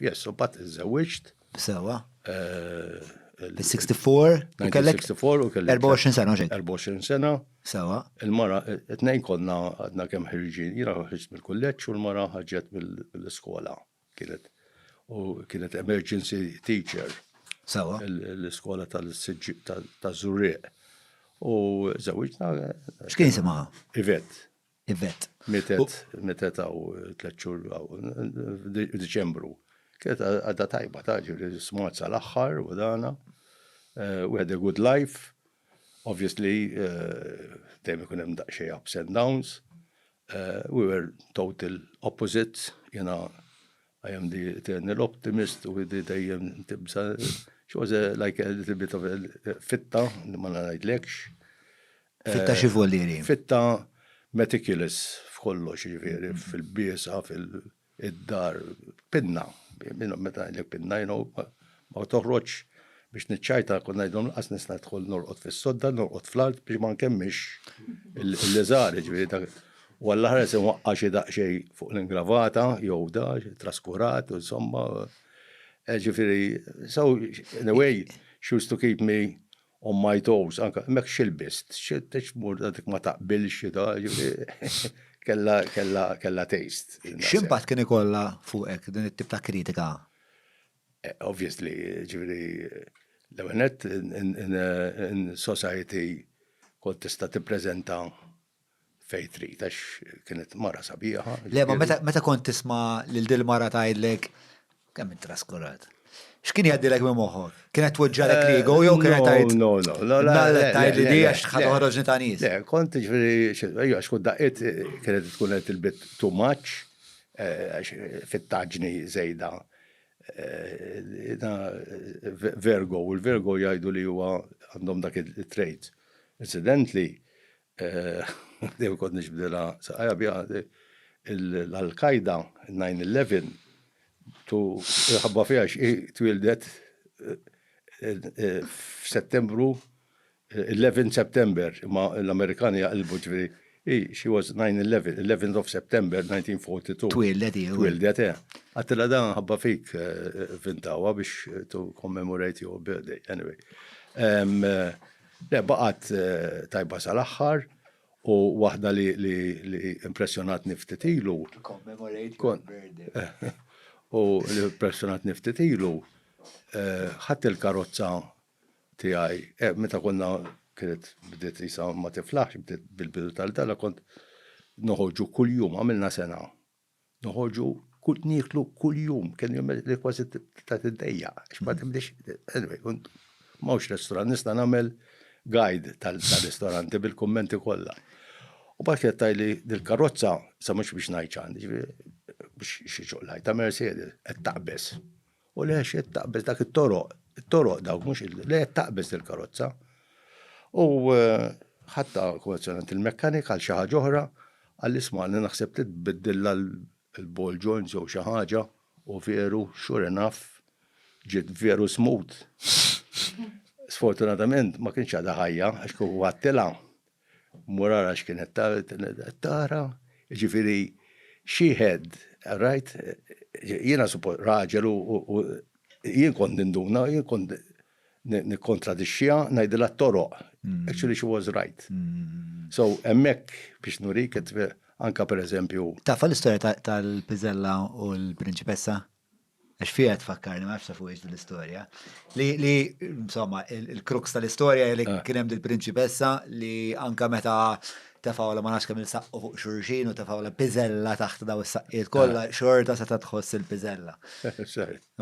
Yes, u bat iżżewġt. Sewa. Fil-64, eh, kellek 64 u kellek 24 sena, ġej. 24 sena. Sewa. Il-mara, it-tnejn konna għadna kemm ħirġin, jina ħirġt mill-kulleġġ u l-mara ħarġet mill-iskola. Kienet u kienet emergency teacher. Sewa. L-iskola tal-Zurriq. U żewġna. X'kien jisimha? Ivet. Yvette. Mietet, mietet għaw tlet xhur għaw, Diċembru. Kienet għadda tajba ta' ġiri smart sa' l-axħar u dana. Eh, we had a good life. Obviously, eh, dejjem ikun hemm daqsxejn ups and downs. Eh, we were total opposites, jena I am the eternal optimist u di dejjem tibsa. She was a, like a little bit of a fitta, li ma ngħidlekx. Fitta xi voliri? Eh, fitta meticulous f'kollox, ġifieri, mm-hmm. fil-biesa, fil-dar, pinna. Meta ngħidlek pinna, you know, Ma toħroġx biex niċċajta, kont ngħidilhom lanqas nista' nidħol norqod fis-sodda, norqod fl-art biex ma nkemmilx l-iżgħar, jiġifieri dak. U għall-aħħar inwaqqa' xi daqsxejn fuq l-ingravata jew da, traskurat, insomma. Jiġifieri, so anyway, she used to keep me on my toes, anke hemmhekk x'ilbist, x'tmur dik ma taqbilx xi da, jiġifieri kellha kellha kellha taste. X'impatt kien ikollha fuqek din it-tip ta' kritika? Obviously, ġifieri l-ewwel nett in society kont tista' tippreżenta fejn trid għax kienet mara sabiħa. Le, ma meta kont tisma' lil dil-mara tgħidlek, kemm int traskurat. X'kien jgħaddilek minn moħħok? Kienet tweġġagħlek l-ego jew kienet tgħid. No, no, no. Mela tgħidli di għax ħadd toħroġni ta' nies. Le, kont ġifieri, ejja għax kont daqqiet kienet tkun qed tilbit too much, għax fit-taġni żejda Virgo, u l-Virgo jgħidu li huwa għandhom dak it-trait. Incidentally, dejjem kont nixbdilha saqajja biha l-Al-Qaeda, 9/11, tu ħabba fiha x'hi twieldet f'Settembru 11 September, imma l-Amerikani jaqilbu ġifieri, hi, she was 9/11, 11th of September 1942. Twieldet hi. Twieldet, eh. Għattilha dan nħabba fik vintawa biex to commemorate your birthday, anyway. Le, baqgħet tajba sal-aħħar u waħda li impressjonatni ftit ilu. To commemorate your birthday. U li impressjonatni ftit ilu, ħadt il-karozza tiegħi eh meta konna kienet bdiet qisha ma tiflaħx bdiet bil-bidu tal-dala kont noħorġu kuljum għamilna sena. Noħorġu kull nieklu kuljum kien jum li kważi ta' tiddejja għax ma tibdix anyway kont mawx restorant nista' nagħmel guide tal-ristoranti bil-kummenti kollha. U bad kienet tajli dil-karozza sa mhux biex ngħid x'għandi, biex xi ċoqlajta Mercedes qed taqbeż. U le xed taqbeż dak it-toroq, it-toroq dawk mhux le qed taqbeż il-karozza. U eh, ħatta konvenzjonant il-mekkanik għal xi ħaġa oħra, għal isma' li naħseb trid tbiddilha l-ball joints jew xi ħaġa u veru sure enough ġiet veru smooth. Sfortunatament ma kienx għadha ħajja għax kieku għattilha Murara x'kienet tara, jiġifieri she had, rajt, jiena suppost raġel u jien kont ninduna, jien kont nikkontradixxiha, ngħidilha t-toroq. Actually she was right. So hemmhekk biex nurik anke pereżempju. Tafa l-istorja tal-piżella u l-prinċipessa? Għax fija tfakkarni, ma nafx fuqiex l-istorja. Li, insomma, il-kruks tal-istorja li eh. kienem dil-prinċipessa li anka meta tefawla ma nafx kemm il-saqqu fuq xurxin u tefawla piżella taħt daw is-saqqiet kollha eh. xorta se tħoss il-piżella.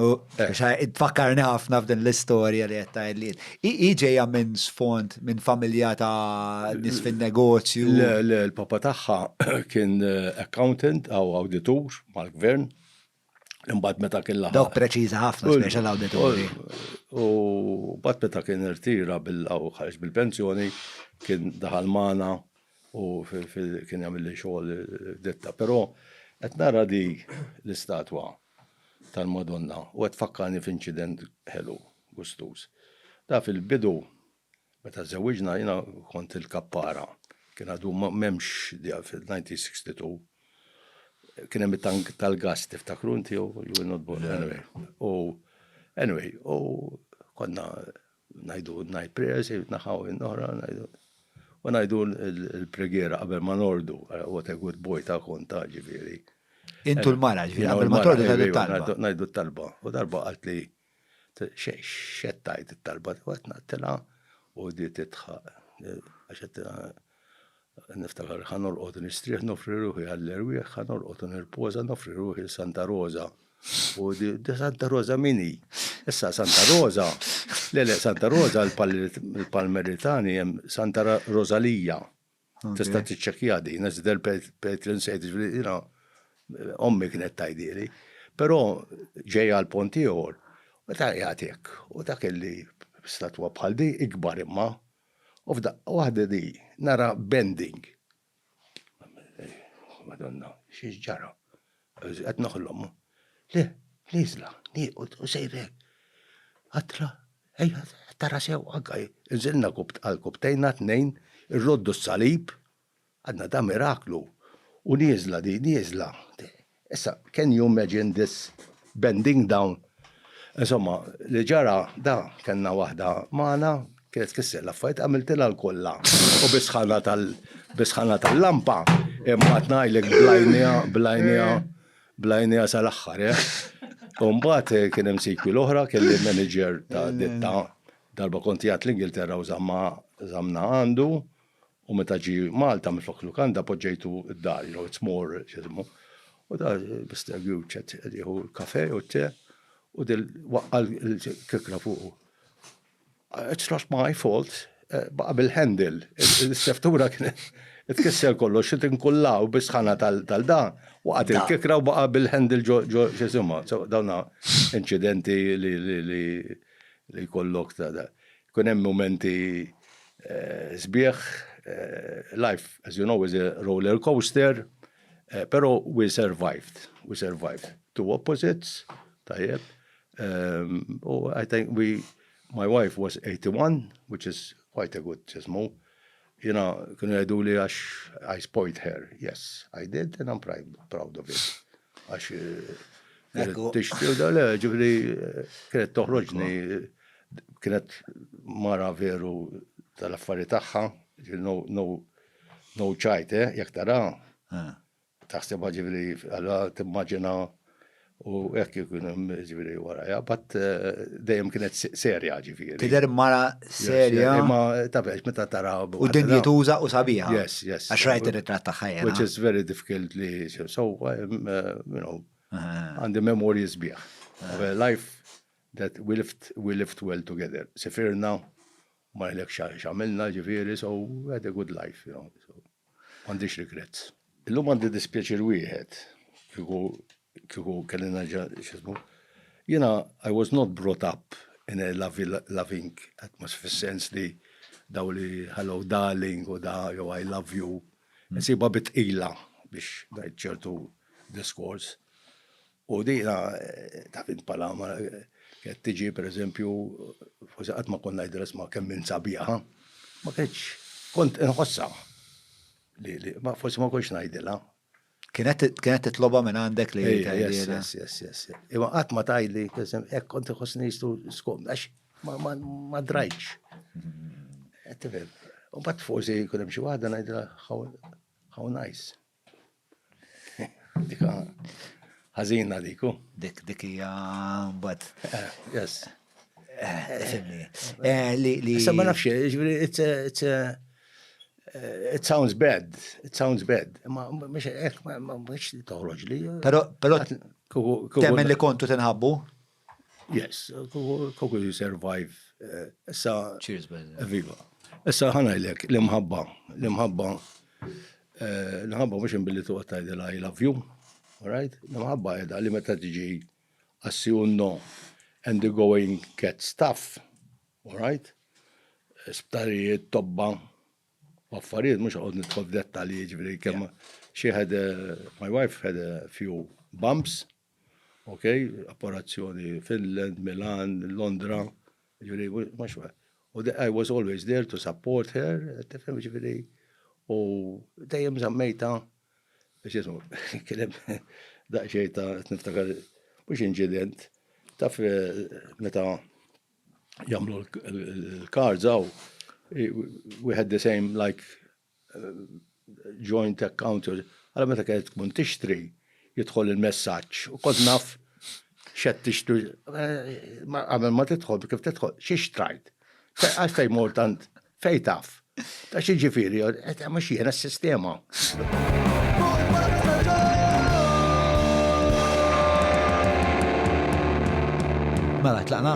U eh. tfakkarni ħafna f'din l-istorja li qed tgħidliet. Hi ġejja minn sfond minn familja ta' nies fin-negozju. Le, le, l-papa tagħha kien eh, accountant aw awditur mal-gvern Imbagħad meta kien laħaq. Dawk preċiża ħafna special auditori. U mbagħad meta kien irtira bil-ħarġ bil-pensjoni kien daħal magħna u kien jagħmel li xogħol ditta. Però qed nara di l-istatwa tal-Madonna u qed fakkarni f'inċident ħelu gustuż. Da fil-bidu Meta żewwiġna jiena kont il-kappara, kien għadu m'hemmx djar fil-1962, kien hemm it-tank tal-gass tiftakru inti jew you were not born anyway. U anyway, u konna ngħidu night prayers in naħa u in oħra ngħidu u ngħidu l-preghiera qabel ma nordu, what a good boy ta' kont ta' ġifieri. Intu l-mara ġifieri qabel ma tordu ngħidu t-talba. Ngħidu t-talba. U darba qaltli X'qed tgħid it-talba tiegħu qed naqtilha u di tidħaq għax qed niftakar ħa norqod nistrieħ nofri ruħi għall-erwieħ, ħa norqod u nirpoża nofri ruħi lil Santa Roża. U di Santa Roża min hi? Issa Santa Roża, le le Santa Roża l-Palmeritani hemm Santa Rożalija. Tista' tiċċekkja din, għax del pet l-insejt ġviri, ommi kienet tajdili. Pero ġej għal pont ieħor, u ta' jgħatek, u ta' kelli statwa bħal di, ikbar imma, u f'da waħda di, nara bending. Madonna, xiex ġara? Qed noħlom u. Le, nieżla, nieqgħod u sejr hekk. Għatla, ejja tara sew anka hi. Inżilna għal kubtejna t-tnejn, irroddu s-salib, għadna ta' miraklu, u nieżla din, nieżla. Issa, can you imagine this bending down? Insomma, li ġara da, kellna waħda magħna, Kienet tfisser l-affarijiet għamiltilha l-kollha u bisħana tal bisħana tal-lampa imma tnajlek blajnija blajnija blajnija sal-aħħar, eh? Umbat eh, kien hemm sikwi l-oħra kelli manager ta' ditta darba konti għat l-Ingilterra u zamma zamna għandu u meta ġi Malta miflok lukanda poġġejtu d-dar, you know, it's more, xizmu. U da, Mr. Gjuċet, jieħu l-kafe u t-te, u dil waqqa l-kikra fuq. It's not my fault, eh, baqa bil-handle. Is-seftura kien tkisser kollox, xi tinkullaw bis-sħana tal-da, waqgħet il-kikra u baqa bil-handle ġo ġo x'isima. Dawna inċidenti li li li kollok ta' da. Kun hemm momenti eh, sbieħ, eh, life, as you know, is a roller coaster, eh, pero we survived, we survived. Two opposites, tajjeb, Um, oh, I think we, my wife was 81, which is quite a good ġismu. Jena, kienu jgħidu li għax I spoiled her. Yes, I did, and I'm proud, proud of it. Għax eh, tixti u dal ġifri eh, kienet toħroġni, kienet mara veru tal-affari tagħha, no, no, no ċajte, eh, jek tara. Taħsibha ġifieri allura timmaġina u hekk ikun hemm ġifieri warajha, bat eh, dejjem kienet serja ġifieri. Tidher mara serja. Imma tafex meta tara. U dinjituża u sabiħa. Yes, yes. Għax rajt ir-ritratt tagħha jena. Which is very difficult li so eh, you know għandi memorji sbieħ. Life that we lived, we lived well together. Sifirna, ma jlek xamilna ġifiri, so had a good life, you know. So. M'għandix regrets. Illum għandi dispjaċir wieħed kieku kieku kelli nerġa' x'ismu. Jiena I was not brought up in a loving atmosphere fis-sens li daw li hello darling u da jew I love you. Insibha bit tqila biex ngħid ċertu diskors. U din taf int bħala qed tiġi pereżempju forsi qatt ma kont ngħidilha isma' kemm int sabiħa. Ma kienx kont inħossha li ma forsi ma kontx ngħidilha. Kienet kienet titloba minn għandek li tgħidilha. Imma qatt ma tgħidli hekk kont iħossni jistu skom għax ma drajtx. Tifhem. U bat forsi jkun hemm xi waħda ngħidilha how nice. Dika ħażina diku. Dik dik hija mbagħad. Eh, yes. Eh, li li. Issa ma nafx, ġifieri it's it sounds bad, it sounds bad. Ma mhux hekk ma mhux toħroġ li. Però però temmen li kontu tinħabbu? Yes, koku you survive. Issa. Cheers, Benjamin. Viva. Issa ħanajlek, l-imħabba, l-imħabba, eh, l-imħabba mux imbilli tu għattajdela I love you, alright? L-imħabba edha li meta tiġi assi unno and the going get stuff, alright? Sptarijiet, tobba, affarijiet, mux għod nitħol dettali ġviri, kemm she had, a, my wife had a few bumps, Ok, apparazzjoni Finland, Milan, Londra, ġifiri, ma xwe. U I was always there to support her, tifhem ġifiri, u dejjem zammejta, xismu, kienem daqxej ta' niftakar, mux incident, taf eh, meta jamlu l-kards għaw, we had the same like joint account, għala meta kienet tkun tixtri, jidħol il-messaġġ u kont naf xed tixtri. Għamil ma tidħol, kif tidħol, xi xtrajt. Għax fej mortant, fej taf. Ta' xi ġifiri, ma xiena s-sistema. Mela, tlaqna?